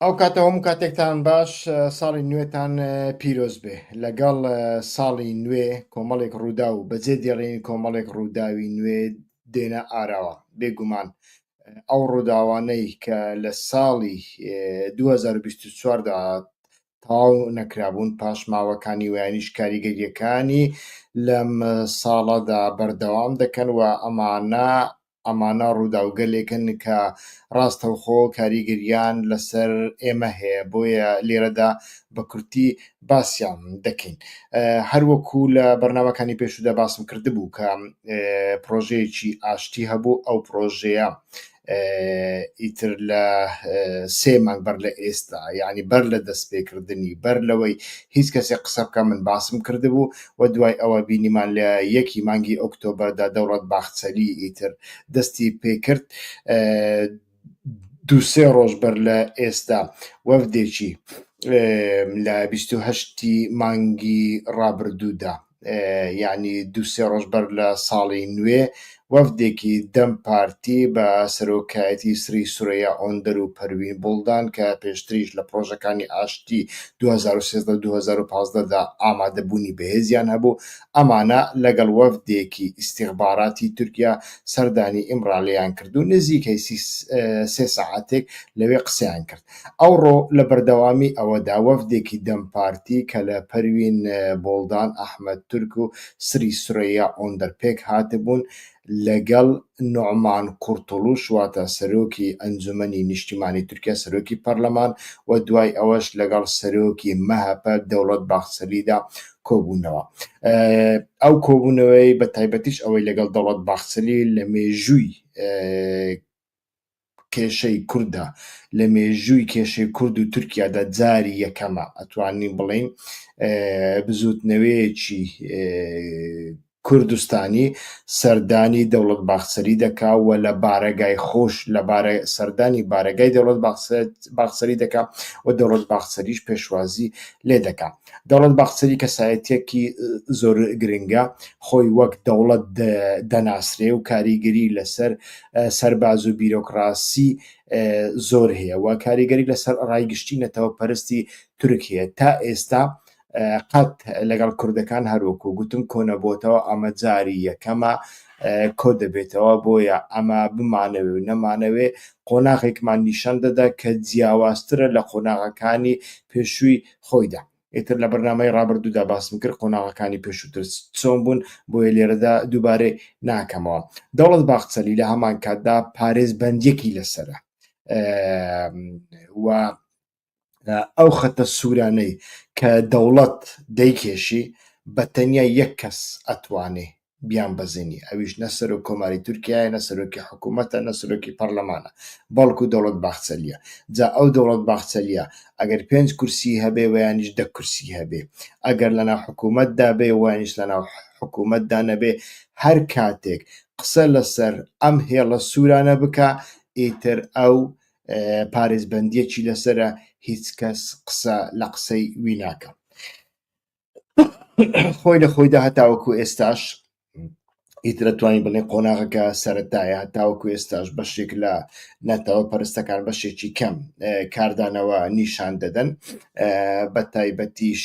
ئەو کاتە هەموو کاتێکتان باش ساڵی نوێتان پیرۆز بێ لەگەڵ ساڵی نوێ کۆمەڵێک ڕوودا و بەجێ دێڕین کۆمەڵێک ڕووداوی نوێ دێنە ئاراوە بێگومان ئەو ڕووداوانەی کە لە ساڵی 2024دا تەواو نەکرابوون، پاشماوەکانی ویانیش کاریگەرییەکانی لەم ساڵەدا بەردەوام دەکەن و ئەمانە ئەمانە ڕووداوگەلێکن کە ڕاستەوخۆ کاریگەریان لەسەر ئێمە هەیە بۆیە لێرەدا بە کورتی باسیان دەکەین هەروەکو لە بەرنمەکانی پێشودا باسم کردبوو کە پرۆژەیەکی ئاشتی هەبوو ئەو پرۆژەیە ئیتر لە سێ مانگ بەر لە ئێستا یعنی بەر لە دەست پێکردنی بەر لەوەی هیچ کەسێ قسە بکە من باسم کردبوو و دوای ئەوە بینیمان لە یەکی مانگی ئۆکتۆبەردا دەوڵەت باخچەلی ئیتر دەستی پێکرد دو سێ ڕۆژ بەر لە ئێستا وەفدێکی لە بیست و هەشتی مانگی ڕابردوودا یانی دوو سێ ڕۆژ بەر لە ساڵی نوێ وەفدێکی دەم پارتی بە سەرۆکایەتی سری سورەیا ئۆندەر و پەروین بوڵدان کە پێشتریش لە پڕۆژەکانی ئاشتی 2013-2015 دا ئامادەبوونی بەهێزیان هەبوو ئەمانە لەگەڵ وەفدێکی ئیستیخباراتی تورکیا سەردانی ئیمرالیان کرد و نزیکەی سێ سەعاتێک لەوێ قسەیان کرد. ئەوڕۆ لە بەردەوامی ئەوەدا وەفدێکی دەم پارتی کە لە پەروین بۆڵدان، ئەحمەد تورک و سری سورەیا ئۆندەر پێک هاتبوون لەگەڵ نوعمان قورتوڵوش واتە سەرۆکی ئەنجومەنی نیشتیمانی تورکیا سەرۆکی پەرلەمان و دوای ئەوەش لەگەڵ سەرۆکی مەهەپە دەوڵەت باخچەلیدا کۆبوونەوە. ئەو کۆبوونەوەی بە تایبەتیش ئەوەی لەگەڵ دەوڵەت باخچەلی لە مێژووی کێشەی کوردە لە مێژووی کێشەی کورد و تورکیادا جاری یەکەمە ئەتوانین بڵێین بزوتنەوەیەکی کوردستانی سەردانی دەوڵەت باخسەری دەکا و لە بارەگای خۆش لە بارە سەردانی بارەگای دەوڵەت باخسەری دەکا و دەوڵەت باخسەریش پێشوازی لێ دەکات دەوڵەت باخچەلی کەسایەتیەکی زۆر گرنگە خۆی وەک دەوڵەت دەناسرێ و کاریگەری لەسەر سەرباز و بیرۆکراسی زۆر هەیە و کاریگەری لەسەر ڕای گشتی نەتەوە پەرستی تورک هەیە تا ئێستا قەت لەگەڵ کوردەکان هەروەکو گوتم کۆنەبووتەوە ئەمە جاری یەکەمە کۆ دەبێتەوە بۆیە ئەمە بمانەوێ و نەمانەوێ قۆناغێکمان نیشان دەدا کە جیاوازترە لە قۆناغەکانی پێشووی خۆیدا. ئیتر لە بەرنامەی ڕابردوودا باسم کرد قۆناغەکانی پێشووتر چۆن بوون بۆیە لێرەدا دووبارەی ناکەمەوە دەوڵەت باخچەلی لە هەمان کاتدا پارێز بەندێکی لەسرە و ئەو خەتە سوورانەی کە دەوڵەت دەیکێشی بە تەنیا یەک کەس ئەتوانێ بیانبەزێنی ئەویش نە سەرۆک کۆماری تورکایە نە سەرۆکی حکوومەتە نە سەرۆکی پەرلەمانە بەڵکو دەوڵەت باخچەلیە جا ئەو دەوڵەت باخچەلیە ئەگەر پێنج کورسی هەبێ ویانیش دە کورسی هەبێ ئەگەر لەنا حکوومەتدا بێ وانیش لەنا حکوومەتدا نەبێ هەر کاتێک قسە لەسەر ئەم هێڵە سوورانە بکە ئیتر ئەو پارێزبندیەکی لەسرە هیچ کەس قسە لە قسەی وی ناکەم خۆی لە خۆیدا هەتاوەکو ئێستاش ئیترە توانین بڵێ قۆناغەکە سەرەتایە تاوەکو ئێستاش بەشێک لە نەتەوە پەرستەکان بەشێکی کەم کاردانەوە نیشان دەدەن بە تایبەتیش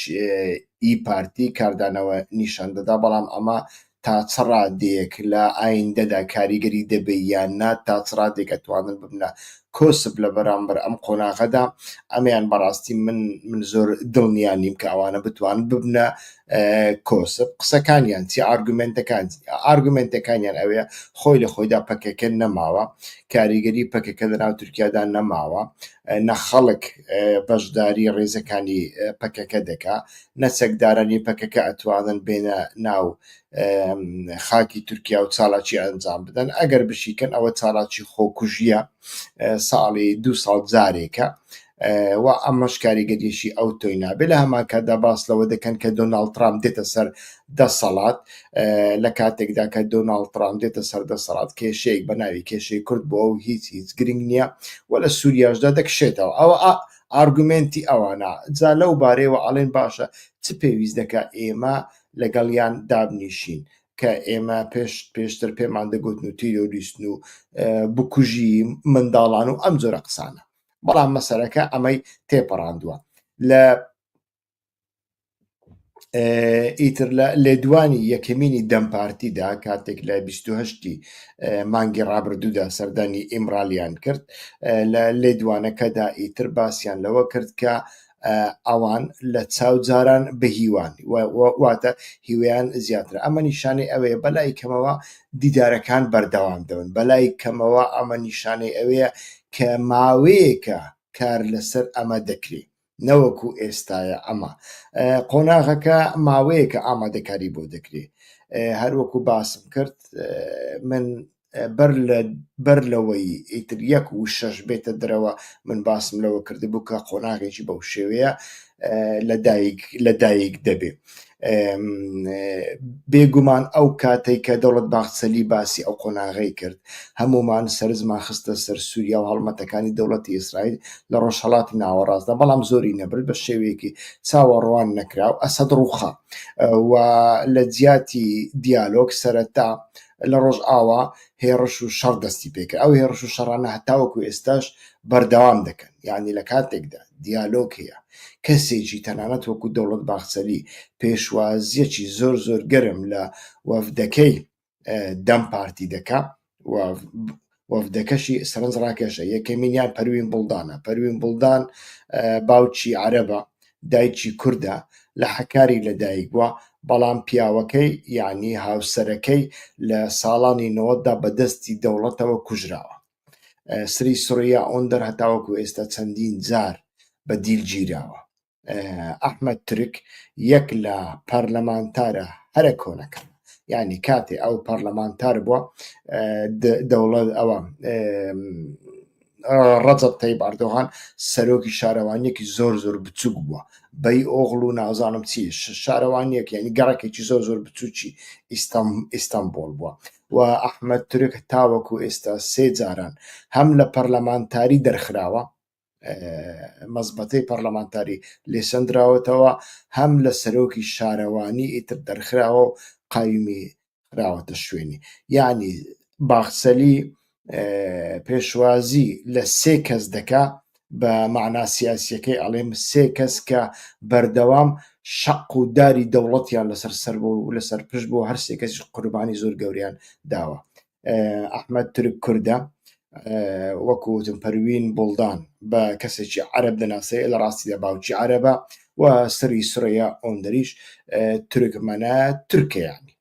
ئی پارتی کاردانەوە نیشان دەدا بەڵام ئەمە تا چ ڕادەیەک لە ئایندەدا کاریگەری دەبێ یان نا، تا چ ڕادەیەک ئەتوانن ببنە کۆسپ لە بەرامبەر ئەم قۆناغەدا، ئەمەیان بەڕاستی من من زۆر دڵنیا نیم کە ئەوانە بتوانن ببنە کۆسپ، قسەکانیان چی ئارگومێنتەکان چی؟ ئارگومێنتەکانیان ئەوەیە خۆی لە خۆیدا پەکەکە نەماوە، کاریگەری پەکەکە لە ناو تورکیادا نەماوە، نە خەڵک بەشداری ڕێزەکانی پەکەکە دەکا، نە چەکدارانی پەکەکە ئەتوانن بێنە ناو خاکی تورکیا و چالاکی ئەنجام بدەن ئەگەر بشیکەن ئەوە چالاکی خۆکوژیە ساڵی دو ساڵ جارێکە و ئەمەش کاریگەریشی ئەو تۆی نابێ لە هەماکەدا باس لەوە دەکەن کە دۆناالد ترام دێتە سەر دەسەڵات لە کاتێکدا کە دۆناالد ترام دێتە سەر دەسەڵات کێشەیەک بە ناوی کێشەی کورد بۆ ئەو هیچ هیچ گرنگ نییە و لە سووریاشدا دەکشێتەوە ئەوە ئارگومێنتی ئەوانە جا لەو بارەیەوە ئەڵێن باشە چ پێویست دەکا ئێمە لەگەڵیان دابنیشین کە ئێمە پێش پێشتر پێمان دەگوتن و تیرۆریستن و بکوژی منداڵان و ئەم جۆرە قسانە بەڵام مەسەرەکە ئەمەی تێپەڕاندووە لە ئیتر لە لێدوانی یەکەمینی دەم پارتیدا کاتێک لە 28ی مانگی ڕابردوودا سەردانی ئیمرالیان کرد لە لێدوانەکەدا ئیتر باسییان لەوە کرد کە ئەوان لە چاوجاران بهیوان واتە هیویان زیاتر ئەمە نیشانەی ئەوەیە بەلای کەمەوە دیدارەکان بەردەوام دەون بەلای کەمەوە ئەمە نیشانەی ئەوەیە کە ماوەیەکە کار لەسەر ئەمە دەکرێت نەوەکو ئێستاە ئەمە قۆناغەکە ماوەیەکە ئامادەکاری بۆ دەکرێ هەروەکو باسم کرد من بەر لە بەر لەوەی ئیتر یەک و شەش بێتە درەوە من باسم لەوە کردبوو کە قۆناغێکی بەو شێوەیە لە دایک لە دایک دەبێت بێگومان ئەو کاتەی کە دەوڵەت باخچەلی باسی ئەو قۆناغەی کرد هەمومان سەرنجمان خستە سەر سووریا و هەڵمەتەکانی دەوڵەتی ئیسرائیل لە ڕۆژهەڵاتی ناوەڕاستدا بەڵام زۆری نەبرد بە شێوەیەکی چاوەڕوان نەکراو ئەسەد ڕووخا و لە جیاتی دیالۆگ سەرەتا لە ڕۆژئاوا هێڕش و شەڕ دەستی پێکرد ئەو هێڕش و شەڕانە هەتاوەکو ئێستاش بەردەوام دەکەن یانی لە کاتێکدا دیالۆگ هەیە کەسێکی تەنانەت وەکو دەوڵەت باخچەلی پێشوازیەکی زۆر زۆر گەرم لە وەفدەکەی دەم پارتی دەکا و وەفدەکەشی سەرنج ڕاکێشە یەکەمینیان پەروین بڵدانە پەروین بڵدان باوکی عەرەبە دایکی کوردە لە حەکاری لەدایک بووە بەڵام پیاوەکەی یعنی هاوسەرەکەی لە ساڵانی نەوەتدا بەدەستی دەوڵەتەوە کوژراوە سری سڕیا ئۆندەر هەتاوەکو ئێستا چەندین جار بە دیل گیراوە ئەحمد ترک یەک لە پەرلەمانتارە هەرە کۆنەکە ینی کاتێ ئەو پەرلەمانتار بووە دەوڵەت ئەوە ڕەجە تەی باردۆغان سەرۆکی شارەوانیەکی زۆر زۆر بچوک بووە بەی ئۆغڵ و نازانم چی شارەوانیەک ینی گەڕەکێکی زۆر زۆر بچوکی ئیستانبول بووە و ئەحمەد تورک تاوەکو ئێستا سێ جاران هەم لە پەرلەمانتاری دەرخراوە، مەزبەتەی پەرلەمانتاری لێ سەندراوەتەوە، هەم لە سەرۆکی شارەوانی ئیتر دەرخراوە و قایمی خراوەتە شوێنی. یانی باخچەلی پێشوازی لە سێ کەس دەکا بە معنا سیاسیەکەی ئەڵێم سێ کەس کە بەردەوام شەق و داری دەوڵەتیان لەسەر سەر بۆ و لەسەر پشت بۆ هەر سێ کەسی قوربانی زۆر گەوریان داوە ئەحمد ترک کوردە وەکوتم پەروین بڵدان بە کەسێکی عرب دەناسێ لە ڕاستی لە باوکی عربە و سری سرەیە ئۆندریش ترکمەە ترکیانی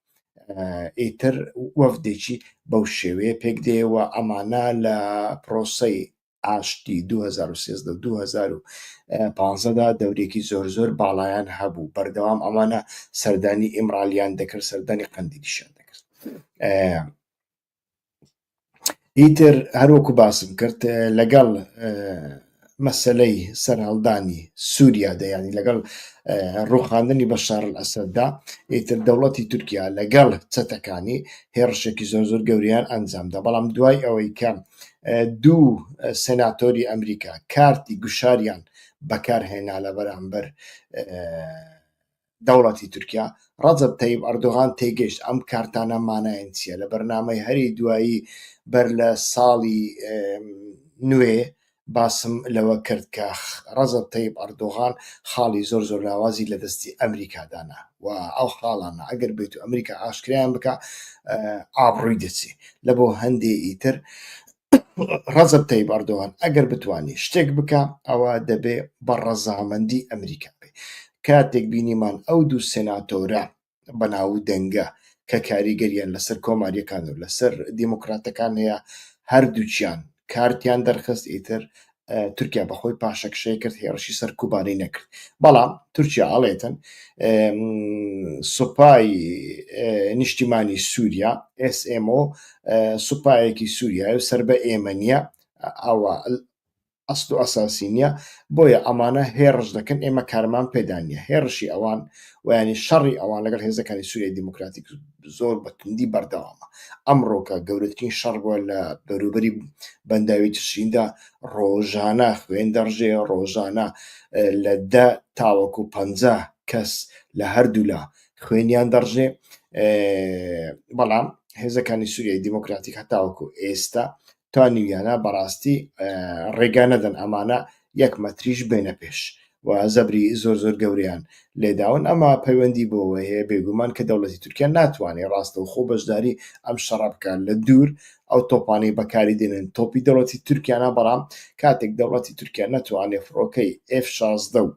ئیتر وەفدێکی بەو شێوەیە پێک دێەوە ئەمانە لە پرۆسەی ئاشتی 2013 2015دا دەورێکی زۆر زۆر باڵایان هەبوو بەردەوام ئەمانە سەردانی ئیمرالیان دەکرد سەردانی قەندیلیشان دەکرد ئیتر هەروەکو باسم کرد لەگەڵ مەسلەی سەرهەڵدانی سووریا دەیانی لەگەڵ ڕوخاندنی بە شارل ئەسەددا ئیتر دەوڵەتی تورکیا لەگەڵ چەتەکانی هێڕشێکی زۆر زۆر گەوریان ئەنجامدا بەڵام دوای ئەوەی کە دوو سناتۆری ئەمریکا کارتی گوشاریان بەکارهێنا لە بەرامبەر دەوڵەتی تورکیا، ڕەجەب تەیب ئەردۆغان تێگەیشت ئەم کارتانە مانایان چییە، لە بەرنامەی هەری دوایی بەر لە ساڵی نوێ باسم لەوە کرد کە ڕەجەب تەیب ئەردۆغان خاڵی زۆر زۆر لاوازی لە دەستی ئەمریکا دانا و ئەو خاڵانە ئەگەر بێت و ئەمریکا ئاشکرایان بکە ئابڕووی دەچێ لە بۆ هەندێ ئیتر ڕەزب تەیب ئەردۆغان ئەگەر بتوانێت شتێک بکە ئەوە دەبێ بە ڕەزامەندی ئەمریکا بێ کاتێک بینیمان ئەو دوو سێناتۆرە بەناو دەنگە کە کاریگەریان لەسەر کۆماریەکان و لەسەر دیموکراتەکان هەیە هەردووچیان کارتیان دەرخست ئیتر تورکیا بەخۆی پاشەکشەی کرد هێڕشی سەر کوبانی نەکرد بەڵام تورکیا ئاڵێتن سوپای نیشتیمانی سووریا SMO سوپایەکی سووریا و سەر بە ئێمە نیە ئەوە ئەست و ئەساسی نییە بۆیە ئەمانە هێڕش دەکەن ئێمە کارمان پێدانە هێڕشی ئەوان ویانی شەڕی ئەوان لەگەڵ هێزەکانی سووری دیموکراتیک زۆر بە توندی بەردەوامە ئەمڕۆکە گەورەترین شەڕ بووە لە بەروبەری بەنداوی تشریندا ڕۆژانە خوێن دەڕژێ ڕۆژانە لە دە تاوەکو پ کەس لە هەردوولا خوێنیان دەڕژێ بەڵام هێزەکانی سووریای دیموکراتیک هەتاوەکو ئێستا تا نیویانا بەڕاستی ڕێگا نەدەن ئەمانە یەک مەتریش بێنە پێش و زەبری زۆر زۆر گەوریان لێداون ئەمە پەیوەندی بۆەوە هەیە بێگومان کە دەوڵەتی تورکیا ناتوانێت ڕاستە و خۆ بەشداری ئەم شەڕە بکات لە دوور ئەو تۆپانەی بەکاری دێنن تۆپی دەوڵەتی تورکیانە بەڵام کاتێک دەوڵەتی تورکیا ناتوانێت فڕۆکەی F شازدە و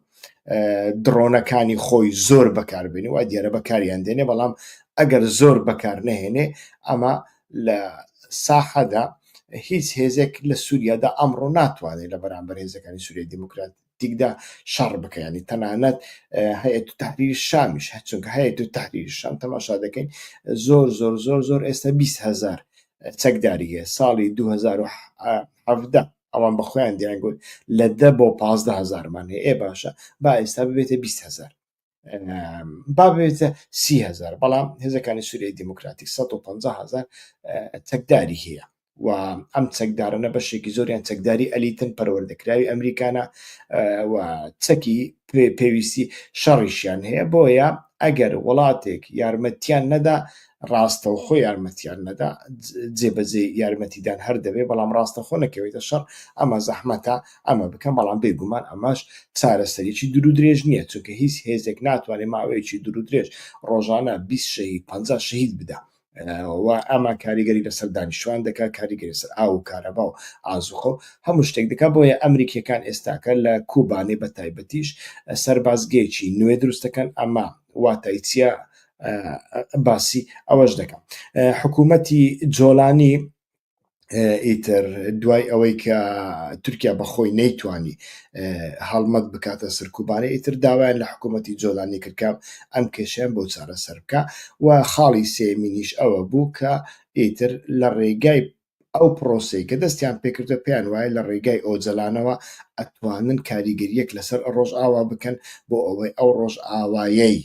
دڕۆنەکانی خۆی زۆر بەکاربێنی و دیارە بەکاریان دێنێ بەڵام ئەگەر زۆر بەکار نەهێنێ ئەمە لە ساحەدا هیچ هێزێک لە سووریادا ئەمڕۆ ناتوانێت لە بەرامبەر هێزەکانی سووریای دیموکراتیکدا شەڕ بکەیانی تەنانەت هەیە تو تحریر شامیش چونکە هەیە تو تحریر شام تەماشا دەکەین زۆر زۆر زۆر زۆر ئێستا 20 هزار چەکداری هەیە ساڵی 2017 ئەوان بە خۆیان دیان گوت لە دە بۆ پازدە هزارمان هەیە ئێ باشە با ئێستا ببێتە 20 هزار بابێتە سیهزار بەڵام هێزەکانی سووریای دیموکراتی 150 هزار چەکداری هەیە و ئەم چەکدارانە بەشێکی زۆریان چەکداری ئەلیتن پەروەردەکراوی ئەمریکانە و چەکی پێویستی شەڕیشیان هەیە بۆیە ئەگەر وڵاتێک یارمەتیان نەدا ڕاستە و خۆ یارمەتیان نەدا جێبەجێ یارمەتیدان هەر دەبێ بەڵام ڕاستەخۆ نەکەوێتە شەڕ ئەمە زەحمەتە ئەمە بکەن، بەڵام بێگومان ئەمەش چارەسەریی دوور و درێژ نییە، چونکە هیچ هێزێک ناتوانێت ماوەیەکی دوور و درێژ ڕۆژانە بیست شەهید، پەنجا شەهید بدا و ئەمە کاریگەری لەسەر دانیشتوان دەکات، کاریگەری لەسەر ئاو و کارەبا و ئازووقە و هەموو شتێک دەکات، بۆیە ئەمریکییەکان ئێستاکە لە کوبانێ بە تایبەتیش سەربازگەیەکی نوێ دروست دەکەن، ئەمە واتای چییە؟ باسی ئەوەش دەکەم حکوومەتی جۆلانی، ئیتر دوای ئەوەی کە تورکیا بەخۆی نەیتوانی هەڵمەت بکاتە سەرکوبانە ئیتر داوایان لە حکوومەتتی جۆلانی کردکە ئەم کێشیان بۆ چارە سەر بکە و خاڵی سێمینیش ئەوە بوو کە ئیتر لە ڕێگای ئەو پرۆسی کە دەستیان پێکردە پێیان وایە لە ڕێگای ئۆجلانەوە ئەتوانن کاریگەریەک لەسەر ڕۆژ ئاوا بکەن بۆ ئەوەی ئەو ڕۆژ ئاوایەی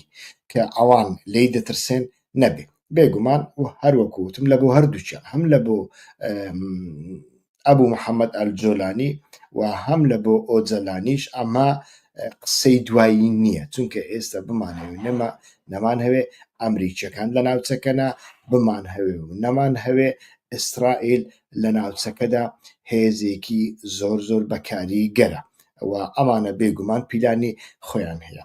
کە ئەوان لی دەترسێن نەبێ بێگومان و هەروەکو وتم لە بۆ هەردووچە هەم لە بۆ ئەبوو محەممەد ئەلجۆلانی و هەم لە بۆ ئۆجەلانیش ئەمە قسەی دوایی نییە چونکە ئێستا بمانەوێت نەمە نەمان هەوێ ئەمریکیەکان لە ناوچەکەنا بمان هەوێ و نەمان هەوێ ئیسرائیل لە ناوچەکەدا هێزێکی زۆر زۆر بەکاری گەرە ئەوە ئەمانە بێگومان پیلانی خۆیان هەیە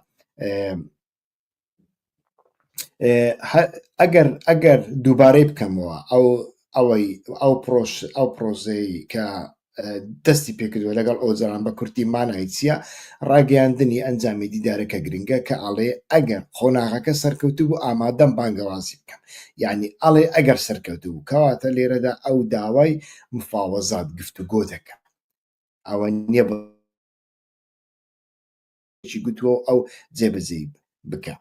ئەگەر ئەگەر دووبارەی بکەمەوە ئەو ئەوەی ئەو پرۆش ئەو پرۆزەی کە دەستی پێکردوە لەگەڵ ئۆجاران بە کورتی مانای چییە ڕاگەیاندنی ئەنجامی دیدارەکە گرنگە کە ئاڵێ ئەگەر قۆناغەکە سەرکەوتو بوو ئامادەم بانگەوازی بکەم یعنی ئەڵێ ئەگەر سەرکەوتو بوو کەواتە لێرەدا ئەو داوای مفاوەزات گفتوگۆ دەکەم ئەوە نییە چی گوتووە ئەو جێبەجێی بکە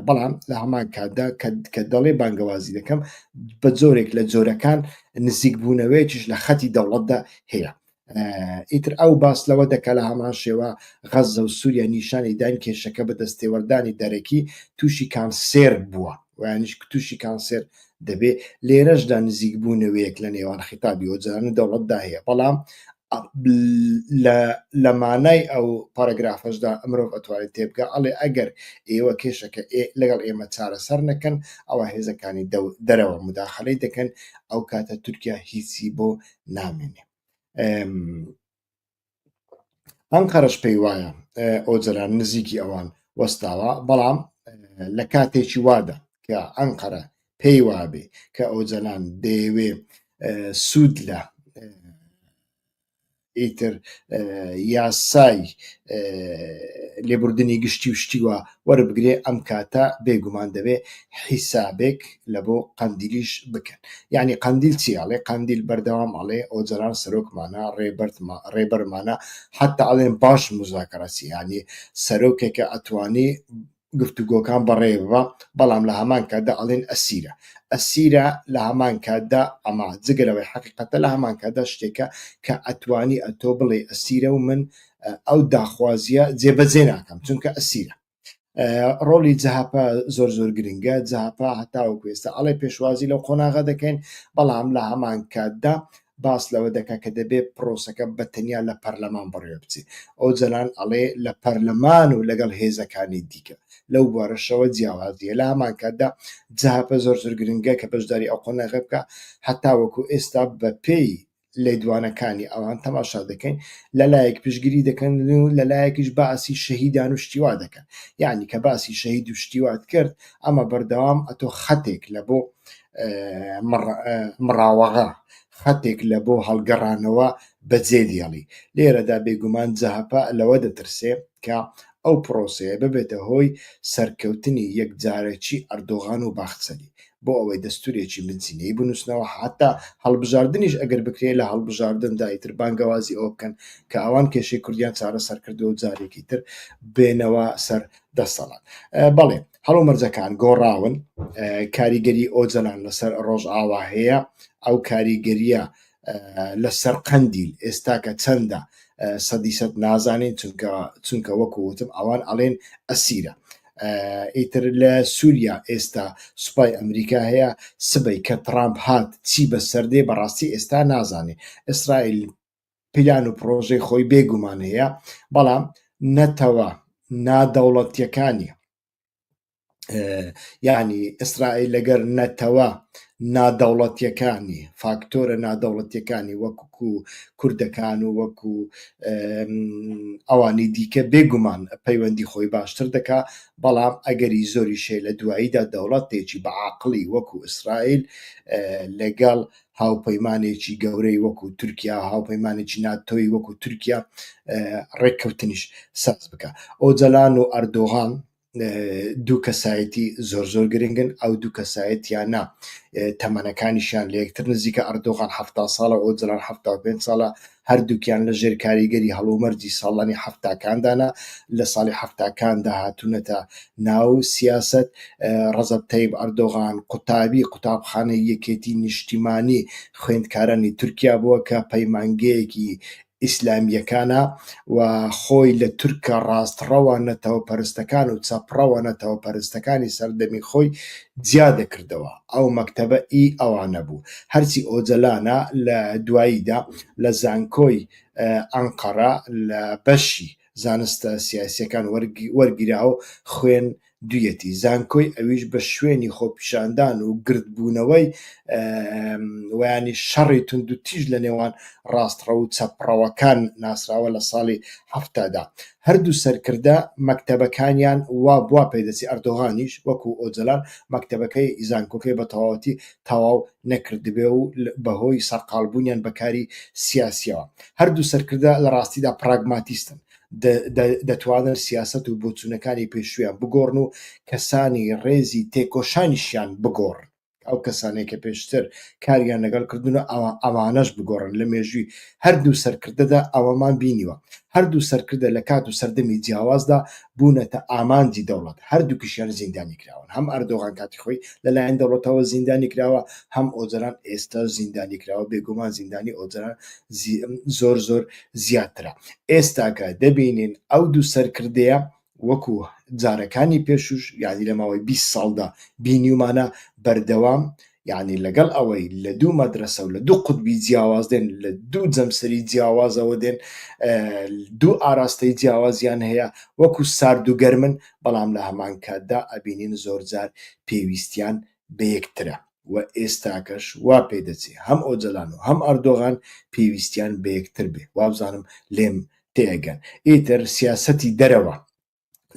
بەڵام لە هەمان کاتدا کە دەڵێ بانگەوازی دەکەم بە جۆرێک لە جۆرەکان نزیک بوونەوەیەکیش لە خەتی دەوڵەتدا هەیە ئیتر ئەو باس لەوە دەکە لە هەمان شێوە غەزە و سووریا نیشانی داین کێشەکە بە دەستێوەردانی دەرەکی تووشی کانسێر بووە وەیانیش تووشی کانسێر دەبێت، لێرەشدا نزیکبوونەوەیەک لە نێوان خیتابی ئۆجەلان و دەوڵەتدا هەیە، بەڵام لە مانای ئەو پاراگرافەشدا مرۆڤ ئەتوانێت تێبگات، ئەڵێ ئەگەر ئێوە کێشەکە لەگەڵ ئێمە چارەسەر نەکەن، ئەوا هێزەکانی دەرەوە موداخەلەی دەکەن، ئەوکاتە تورکیا هیچی بۆ نامێنێت. ئەنقەرەش پێی وایە ئۆجەلان نزیکی ئەوان وەستاوە بەڵام لە کاتێکی وادا کە ئەنقەرە پێی وابێ کە ئۆجەلان دەیەوێ سوود لە ئیتر یاسای لێبوردنی گشتی و شتیوە وەربگرێ ئەم کاتە بێ گومان دەبێ حیسابێک لە بۆ قەندیلیش بکەن یانی قەندیل چی ئەڵێ قەندیل بەردەوام ئەڵێ ئۆجەلان سەرۆکمانە ڕێبەرتمە ڕێبەرمانە حەتا ئەڵێن باش مزاکەرەسی یانی سەرۆکێکە ئەتوانی گفتوگۆکان بەڕێوە بەڵام لە هەمان کاتدا ئەڵێن ئەسیرە ئەسیرە لە هەمان کاتدا ئەما جگەلەوەی حقیقەتە لە هەمان کاتدا شتێکە کە ئەتوانی ئەتۆ بڵێ ئەسیرە و من ئەو داخوازیە جێبەجێ ناکەم چونکە ئەسیرە ڕۆلی جەهاپە زۆر زۆر گرنگە جەهاپە هەتاوە کوێستە ئەڵێ پێشوازی لەو قۆناغە دەکەین بەڵام لە هەمان کاتدا باس لەوە دەکە کە دەبێت پرۆسەکە بە تەنیا لە پەرلەمان بڕێ بچێت ئەو جەلان ئەڵێ لە پەرلەمان و لەگەڵ هێزەکانی دیکە لەو بارەشەوە جیاوازیە لە هەمان کاتدا جەهاپە زۆر زۆر گرنگە کە بەشداری ئەو قۆناغە بکە هەتا وەکو ئێستا بە پێی لێدوانەکانی ئەوان تەماشا دەکەین لە لایەک پشگیری دەکەن و لە لایەکیش باسی شەهیدان و شتیوا دەکەن یعنی کە باسی شەهید و شتیوات کرد ئەمە بەردەوام ئەتۆ خەتێک لە بۆ مڕاوەغا خەتێک لە بۆ هەڵگەڕانەوە بەجێدیێڵی لێرەدا بێگومان جەهپە لەوە دەترسێ کە ئەو پرۆسەیە ببێتە هۆی سەرکەوتنی یەکجارەکی ئەردۆغان و باخچەلی بۆ ئەوەی دەستورێکی بنچینەیی بنوسنەوە حەتا هەڵبژاردنیش ئەگەر بکرێت لە هەڵبژاردندا ئیتر بانگەوازی ئەوە بکەن کە ئەوان کێشەی کوردیان چارەسەر کردوە و جارێکی تر بێنەوە سەر دەسەڵات بەڵێ هەڵو مەرجەکان گۆڕاون کاریگەری ئۆجەلان لەسەر ڕۆژئاوا هەیە ئەو کاریگەریە لە سەر قەندیل ئێستاکە چەندە سەدی سەد نازانین چونکە چونکە وەکو وتم ئەوان ئەڵێن ئەسیرە ئیتر لە سووریا ئێستا سوپای ئەمریکا هەیە سبەی کە ترامپ هات چی بە سەردێ بەڕاستی ئێستا نازانێ ئیسرائیل پیلان و پرۆژەی خۆی بێگومان هەیە بەڵام نەتەوە نادەوڵەتیەکانی یعنی ئیسرائیل لەگەر نەتەوە نادەوڵەتیەکانی فاکتۆرە نادەوڵەتیەکانی وەکو کوردەکان و وەکو ئەوانی دیکە بێگومان پەیوەندی خۆی باشتر دەکا بەڵام ئەگەری زۆری شێ لە دواییدا دەوڵەتێکی بەعاقلی وەکو ئیسرائیل لەگەڵ هاوپەیمانێکی گەورەی وەکو تورکیا هاوپەیمانێکی ناتۆی وەکو تورکیا ڕێککەوتنیش ساز بکە ئۆجەلان و ئەردۆغان دوو کەسایەتی زۆر زۆر گرنگن ئەو دوو کەسایەتیانە تەمەنەکانیشیان لە یەکتر نزیکە ئەردۆغان ه ساڵە ئۆجلان ه پێ ساڵە هەردووکیان لە ژێر کاریگەری هەڵومەرجی ساڵانی حەفتاکاندانا لە ساڵی حەفتاکاندا هاتوونەتە ناو سیاست ڕەزەب تەیب ئەردۆغان قوتابی قوتابخانەی یەکێتی نیشتیمانی خوێندکارانی تورکیا بووە کە پەیمانگەیەکی ئیسلامیەکانە و خۆی لە تورکە ڕاستڕەوە نەتەوە پەرستەکان و چەپڕەوە نەتەوە پەرستەکانی سەردەمی خۆی جیا دەکردەوە ئەو مەکتەبە ئی ئەوانە بوو. هەرچی ئۆجەلانە لە دواییدا لە زانکۆی ئەنقەرە لە بەشی زانستە سیاسییەکان وەرگیرا و خوێن دویەتی زانکۆی ئەویش بە شوێنی خۆپیشاندان و گرد بوونەوەی وەیانی شەڕی توندوتیژ لە نێوان ڕاستڕەو و چەپڕەوەکان ناسراوە لە ساڵی هەفتادا هەردوو سەرکردە مەکتەبەکانیان وا بوا پێدەچێ ئەردۆغانیش وەکو ئۆجەلان مەکتەبەکەی زانکۆکەی بە تەواوەتی تەواو نەکردبێ و بە هۆی سەرقاڵ بوونیان بە کاری سیاسیەوە هەردوو سەرکردە لە ڕاستیدا پراگماتیستن دەتوانن سیاسەت و بۆچوونەکانی پێشوویان بگۆڕن و کەسانی ڕێزی تێکۆشانیشیان بگۆڕن. ئەو کەسانەی کە پێشتر کاریان لەگەڵ کردن و ئەوە ئەوانەش بگۆڕن لە مێژووی هەردوو سەرکردەدا ئەوەمان بینیوە هەردوو سەرکردە لە کات و سەردەمی جیاوازدا بوونەتە ئامانجی دەوڵەت هەردووکیشیان زیندانی کراون هەم ئەردۆغان کاتی خۆی لەلایەن دەوڵەتەوە زیندانی کراوە هەم ئۆجەران ئێستا زیندانی کراوە بێگومان زیندانی ئۆجەران زۆر زۆر زیاترە ئێستاکە دەبینین ئەو دوو سەرکردەیە وەکو جارەکانی پێشوش یعنی لە ماوەی بیست ساڵدا بینیومانە بەردەوام یعنی لەگەڵ ئەوەی لە دوو مەدرسە و لە دوو قوتبی جیاواز دێن لە دوو جەمسەری جیاوازەوە دێن دوو ئاراستەی جیاوازیان هەیە وەکو سارد و گەرمن بەڵام لە هەمان کاتدا ئەبینین زۆرجار پێویستیان بە یەکترە و ئێستاکەش وا پێ دەچێ هەم ئۆجەلان و هەم ئەردۆغان پێویستیان بە یەکتر بێ، وابزانم لێم تێئەگەن. ئیتر سیاسەتی دەرەوە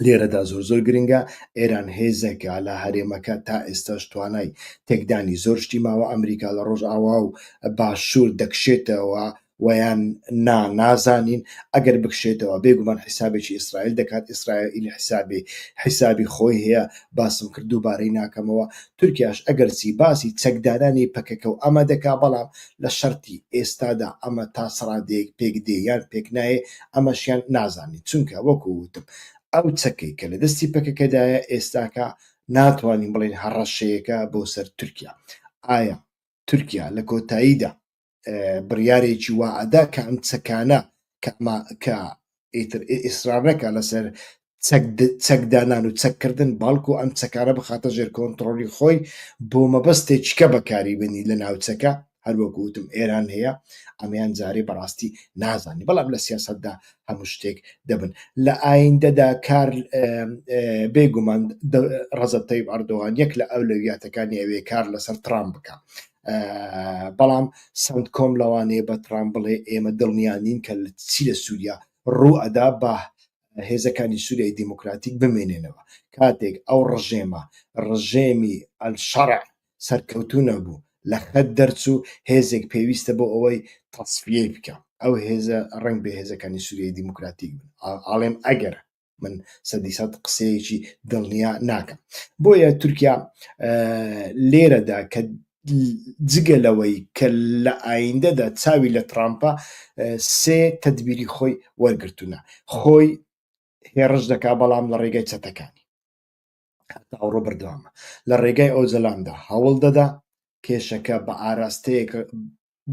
لێرەدا زۆر زۆر گرنگە، ئێران هێزێکە لە هەرێمەکە تا ئێستاش توانای تێکدانی زۆر شتی ماوە، ئەمریکا لە ڕۆژئاوا و باشوور دەکشێتەوە وەیان نا نازانین ئەگەر بکشێتەوە بێگومان حیسابێکی ئیسرائیل دەکات ئیسرائیل حیسابی حیسابی خۆی هەیە باسم کرد دووبارەی ناکەمەوە تورکیاش ئەگەرچی باسی چەکدارانی پەکەکە و ئەمە دەکا بەڵام لە شەرتی ئێستادا ئەمە تا سڕادەیەک پێک دێ یان پێک نایە ئەمەشیان نازانین چونکە وەکو وتم ئەو چەکەی کە لە دەستی پەکەکەدایە ئێستاکە ناتوانین بڵێن هەڕەشەیەەکە بۆ سەر تورکیا ئایا تورکیا لە کۆتاییدا بڕیارێکی وا ئەدا کە ئەم چەکانە کە ئیتر ئیسرار نەکە لەسەر چەکدانان و چەککردن باڵکو ئەم چەکارە بخاتە ژێر کۆنتترۆلی خۆی بۆ مەبەستێکیکە بەکاری بنی لە ناوچەکە هەروەکوتم ئێران هەیە ئەمیان جارێ بەڕاستی نازانانی بەڵام لە سیاستدا هەموو شتێک دەبن لە ئایندەدا کار بێگومان ڕزەتەی ئەردۆوان یەک لە ئەو لەویاتەکانی ئەوێ کار لەسەر ترام بکە بەڵام سنت کۆم لەوانەیە بە ترامپ بڵێ ئێمە دڵنیانین کە چی لە سووریا ڕوو ئەدا بە هێزەکانی سووریای دیموکراتیک بمێنێنەوە کاتێک ئەو ڕژێمە ڕژێمی ئەلشەڕ سەرکەوتو نەبوو لە خەت دەرچوو هێزێک پێویستە بۆ ئەوەی تەسفیەی بکە ئەو هێزە ڕنگ بە هێزەکانی سووریای دیموکراتیک بن ئاڵێم ئەگەر من سەدی سەد قسەیەکی دڵنیا ناکەم بۆیە تورکیا لێرەدا کە جگە لەوەی کە لە ئایندەدا چاوی لە ترامپە سێ تدبیری خۆی وەرگتونە خۆی هێڕش دەکا بەڵام لە ڕێگەی چەتەکانی هەتا ئەوڕۆ بەردەوامە لە ڕێگای ئۆجەلاندا هەوڵ دەدا کێشەکە بە ئاراستەیەک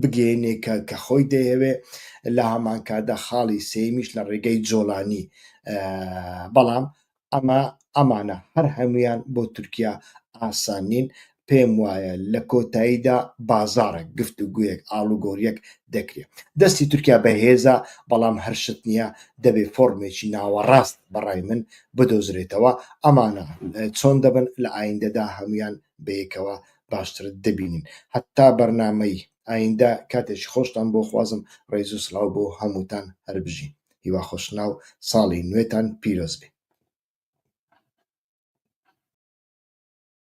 بگەێنێ کە کە خۆی دەیەوێ لە هەمانکادا خاڵی سێمیش لە ڕێگەی جۆلانی بەڵام ئەمە ئەمانە هەر هەمویان بۆ تورکیا ئاسان نین پێم وایە لە کۆتاییدا بازارێک گفتوگویەک ئاڵوگۆریەک دەکرێت دەستی تورکیا بەهێزە بەڵام هەر شت نییە دەبێ فۆرمێکی ناوەڕاست بەڕای من بدۆزرێتەوە ئەمانە چۆن دەبن لە ئایندەدا هەمویان بەیەکەوە باشتر دەبینین هەتا بەرنمەی ئایندە کاتێکی خۆشتان بۆ خوازم ڕێز و سلااو بۆ هەمووتان هەربژین هیوا خۆشناو ساڵی نوێتان پیرۆز بێ